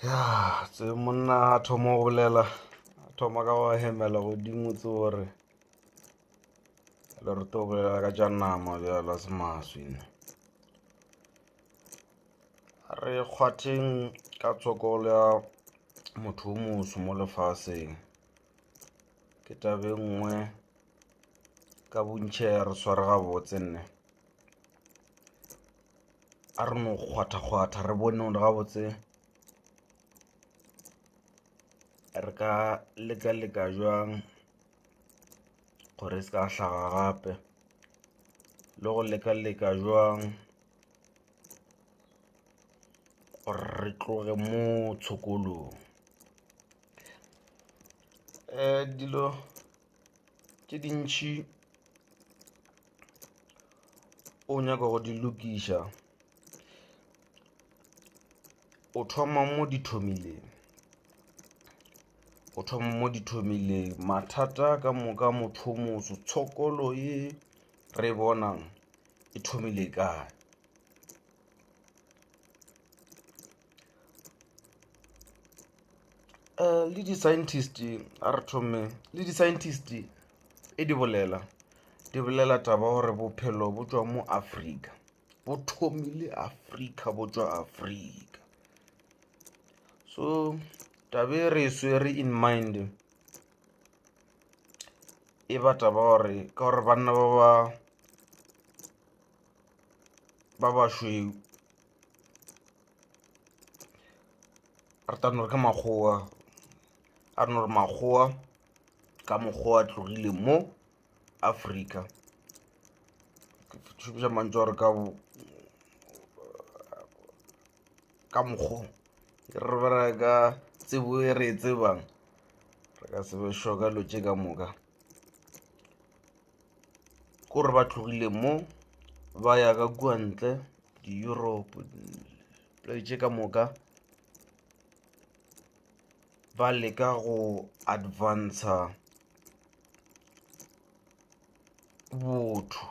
ya tse monna a thoma go bolela a thoma ka go hemela godimo tse gore le re to bolela ka tša nama bjala se maswina re kgwatheng ka tshokolo ya motho o moso mo lefaseng ke tabe nngwe ka bontšhe ya re sware gabotse nne a re no kgwathakgwatha re bone gore gabotse re ka leka-leka jwang gore e se ka hlaga gape le go leka-leka jwang gore re tloge mo tshokolong um dilo tše dintšhi o nyaka go di lokiša o thoma mo di thomileng o thoma mo di thomileng mathata ka moka motho motho tshokolo e re bonang e thomile kae um le di-scientist a re thome le di-scientist e di bolela di bolela taba gore bophelo bo tswa mo afrika bo thomile afrika bo tswa afrika so tabe re swere in mind e ba taba gore ka gore banna ba ba ba bašweu ratano re ka makgowa a re no re makgowa ka mokgowa a tlogile mo afrika šomiša mantso gore ka ka mokgong re bera ka tsebo e re e tsebang re ka sebe sho ka lo tše ka moka kore ba tlogile mo ba ya ka kua ntle di-europe play tše ka moka ba leka go advanca botho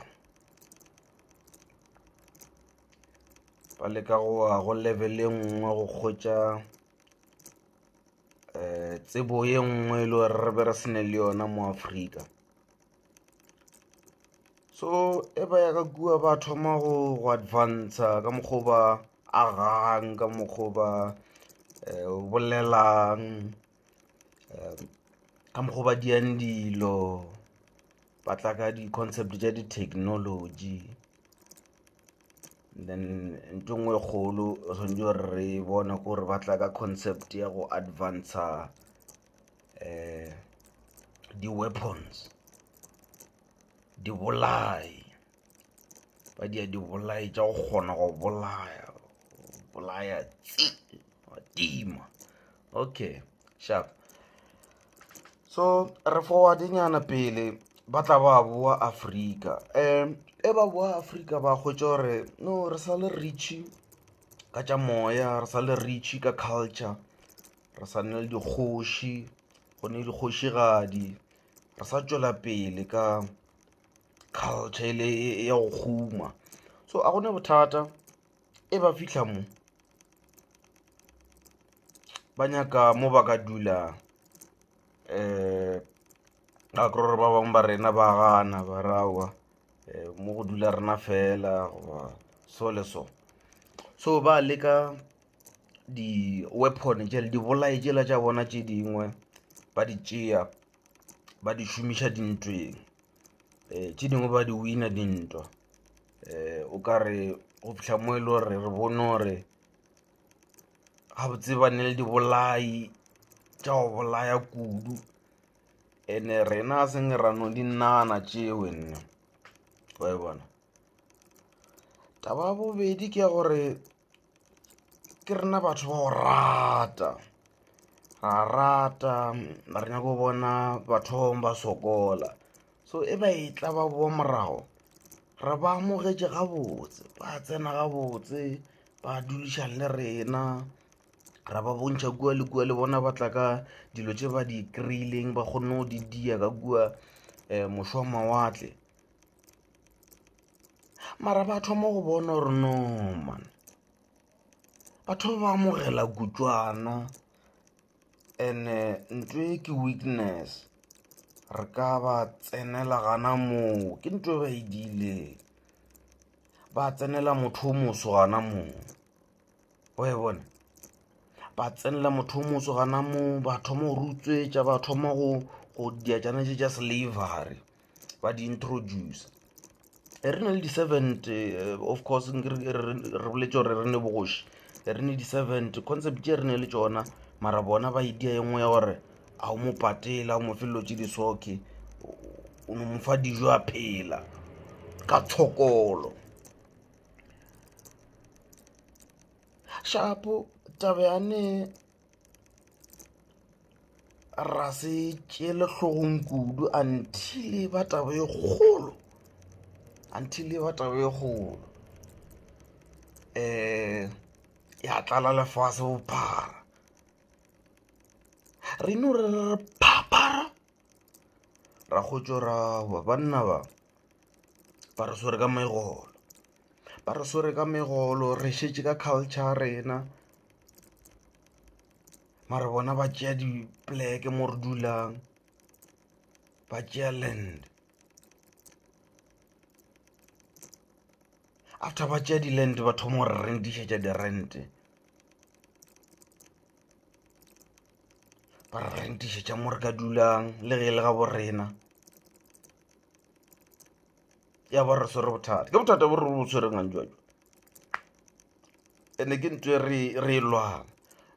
ba leka go wa go level e nngwe go kgotša um tsebo ye nngwe e le gore re be re sene le yona mo afrika so e ba ya ka kua ba thoma go go advanca ka mokgwa ba agang ka mokgwa ba eh, o bolelang eh, ka mokgwa ba diang dilo ba tla ka di-concept tša di-technology then nto ngwe e kgolo swantse gore re bone gore ba tla ka concept ya go advanca um eh, di-weapons dibolai ba dia dibolai tša go kgona go bolaya bolaya tsi wa tima okay sharp so re forwardenyana pele ba tla ba boa afrika um e ba boa afrika ba hwetša gore no re sa le reachy ka tša moya re sa le reachy ka culture re sa nne le dikgoši go ne dikgošigadi re sa tšwela pele ka culture e le ya go guma so a gone bothata e ba fihla mo ba nyaka mo ba ka dula um a kry gore ba bangwe ba rena ba gana ba rawa um mo go dula rena fela goba so le so so ba leka di-weapon jele dibolae jela tša bona tše dingwe ba di tšea ba di šomiša dintweng um tše dingwe ba di wina dintwa um o ka re go fihla mo e le gore re bone gore gabotse ba ne le dibolai tša go bolaya kudu and-e rena a seng ra no di nagana tšeo nna wa e bona taba ya bobedi ke ya gore ke rena batho ba go rata ra rata re nyako bona batho ba bangwe ba sokola so e ba e tla ba boa morago re ba amogetše gabotse ba tsena gabotse ba dulišang le rena ra ba bontšha kua le kua le bona ba tla ka dilo tše ba di kry-ileng ba kgonne go di dia ka kua um mošwa mawatle mara ba thoma go bona gore no man batho ba ba amogela kutswana and-e ntho e ke weakness re ka ba tsenela gana moo ke ntho e ba e diileng ba tsenela motho o moso gana moo. oe bona ba tsenela motho o motso gana mo ba thoma go rutswetša ba thoma go go diajana tše tša slavery ba di introduce e re na le di-servant eh, of course re boletse gore re ne bogoši re ne di-servant concept tše re ne le tsona mara bona ba e dia e nngwe ya gore a o mo patela o mo felelo tse di soke o no mo fa dijo a phela ka tshokolo shapo taba ya ne ra se tšele hlogong kudu until e ba taba e kgolo until e ba taba e kgolo um ya tlala lefase bophara re no re re phaphara ra go tšorawa banna ba ba re swere ka megolo ba re swere ka megolo re šetše ka culture rena mare bona ba tšea dipleke mo re dulang ba tšea land after ba tšea di-land ba thoma gore rentišetša di-rente ba re rentišetša mo re ka dulang le ge e le ga bo rena ya ba re swere bothata ke bothata bo re bo tshwereng a njwajwa ande ke ntse re re lwana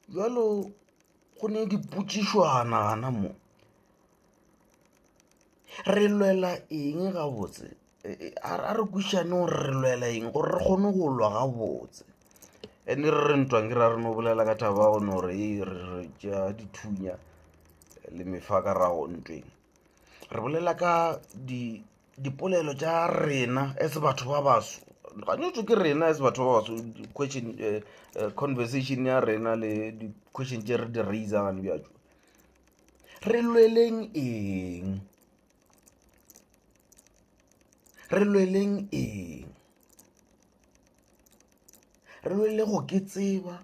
jalo go ne dipotsišwana gana mo re lwela eng gabotse a re kwišane gore re lwela eng gore re kgone go lwa gabotse and-e re re ntwang ke ra re no bolela ka thaba go no gore ee re ja dithunya le mefa ka rago ntweng re bolela ka dipolelo tša rena as batho ba baso gantšintši ke rena as batho ba baso question conversation ya rena le di-question tše re di raiser gane bjatšo re lweleng eng re lweleng eng re lwele go ke tseba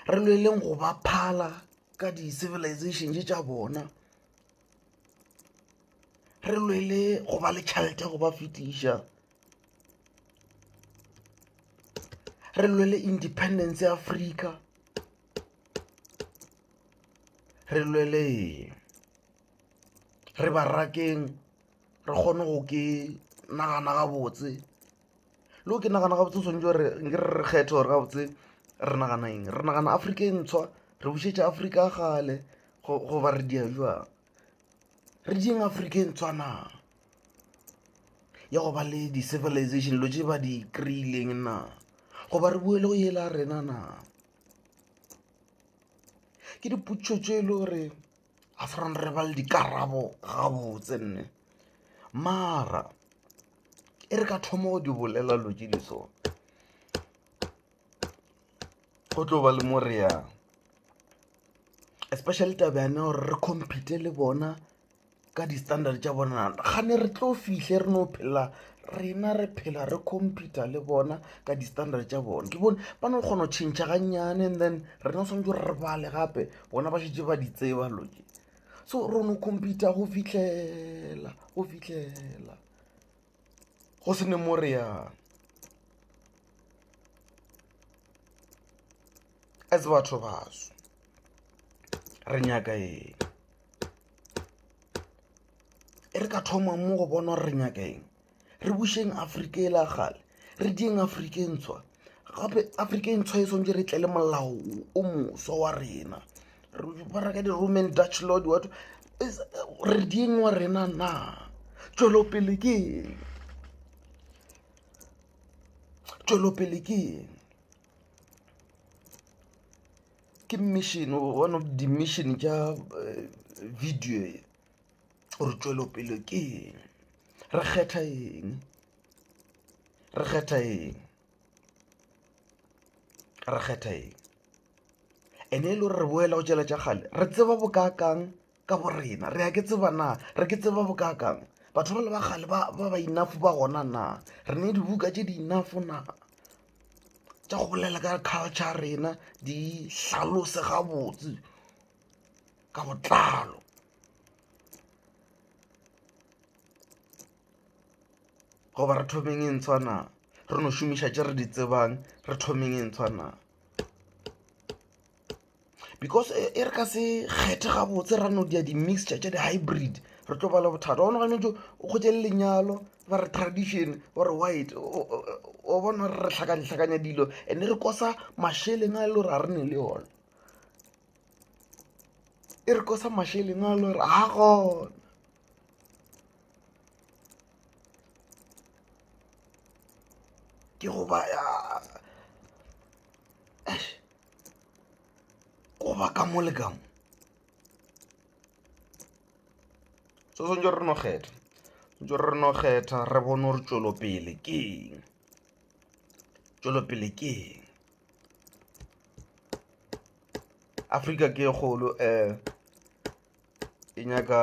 re lweleng go ba phala ka di-civilizations tša bona re lwele go ba le tšhelete go ba fetiša re lwele independence ya afrika re lweleng re barakeng re kgone go ke nagana gabotse le go ke nagana gabotse swanetše gore nke re kgethe gore gabotse re nagana eng re nagana afrika e ntshwa re bušetša afrika ya kgale goba re dia jwang re dieng afrika e ntshwa na ya go ba le di-civilization dilo tše ba di kry-ileng na goba re boele go yela rena na ke dipotšišo tše e le gore ga se rona re ba le dikarabo gabotse nne mara e re ka thoma go di bolela lo tše di so go tlo ba le mo re yang especially taba yane gore re compete le bona ka di-standard tša bona gane re tlo fihle re no phela rena re phela re computa le bona ka di-standard tša bona ke bone ba no kgona go tšhentšha gannyane and then rena o tshwanetse re bale gape bona ba šetse ba di tseba loke so re no computa go fitlhela go fitlhela go se ne mo reyang a tse batho baso re nyaka eng e re ka thoma mo go bona gore re nyaka eng re bušeng afrika e la gale re dieng afrika e ntshwa gape afrika e ntshwa e swantse re tle le molao o moso wa rena ba reka di-roman dutch lord wato re dieng wa rena na tšwelopele ke eng tšwelopele ke eng ke mission one of the mission tša eh, video e gore tšwelopele ke eng re kgetha eng re kgetha eng re kgetha eng ene e le gore re boela go tšela tša gale re tseba bokaakang ka bo rena re a ke tseba na re ke tseba bokakang batho ba le ba gale ba ba inafo ba gona na re ne dibuka tše di inafo na tša go bolela ka culture rena di hlalose gabotse ka botlalo goba re thomeng e ntshwa na re no šomiša tše re di tsebang re thomeng e ntshwa na because e, e re ka se kgethe gabotse ra no dia di-mixture tša di-hybrid re tlo bala bothata one gane jo o kgotse le lenyalo ba re tradition ore white o bona re re tlhakantlhakanya dilo and re kosa masheleng a e le gore a re ne le yone e re kosa masheleng a e le gore a gona ke goba goba ka mo le ka mo so swantse re no kgetha swantse re no kgetha re bone gore tšwelopele ke eng tšwelopele ke eng afrika ke kgolo um e nyaka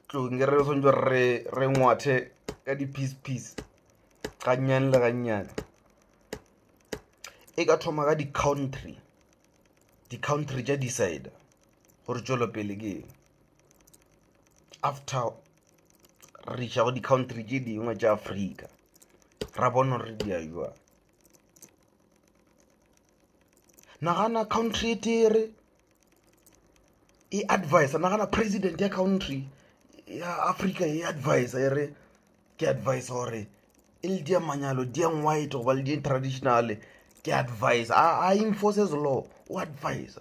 tlong e re re swantse re re ngwathe ka di-piece piece gannyane le gannyane e ka thoma ka di-country di-country tša decide gore tšwelopele ke eng after re iša go di-country tše dingwe tša afrika ra bona gore di a jwang nagana country e tere e advisa nagana president ya country ya africa e advisa e re ke advise gore e le dia manyalo diang white goba le di traditional ke advise a enforces law o advise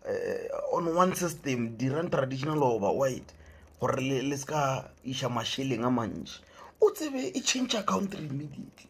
eh, on one system dirang traditional goba white gore le se ka iša mašeleng a mantši o tsebe e change country immediately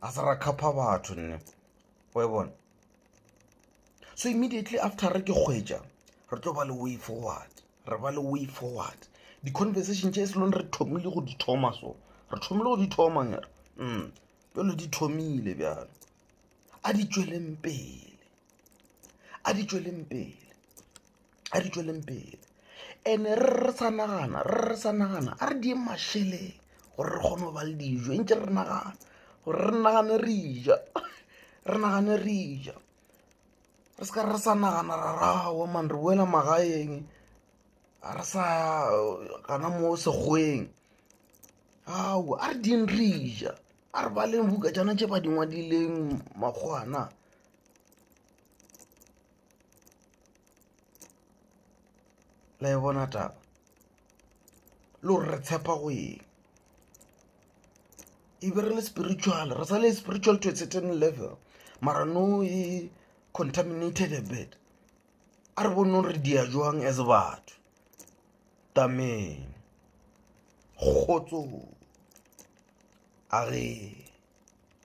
a se ra khapha batho nne o e bona so immediately after re ke kgwetša re tlo ba le way forward re ba le way forward di-conversation tše se lone re thomile go di thoma so re thomile go di thoma ngere mm jalo di thomile bjalo a di tšweleng pele a di tšweleng pele a re tšweleng pele ene re re sa nagana re re sa nagana a re dieng mašeleng gore re kgone go ba le dijo e ntse re nagana gore re nagane re ja re nagane re ja re seka re sa nagana ra rawa man re boela magaeng a re sa gana mo sekgweng ao a re dieng re ja a re baleng buka jana tše ba dingwadileng makgwana la e bona taba le gore re tshepa go eng e be re le spiritual re sa le spiritual to a certain level mara no e contaminated a bit a re bone re dia jwang as batho tameng kgotso a re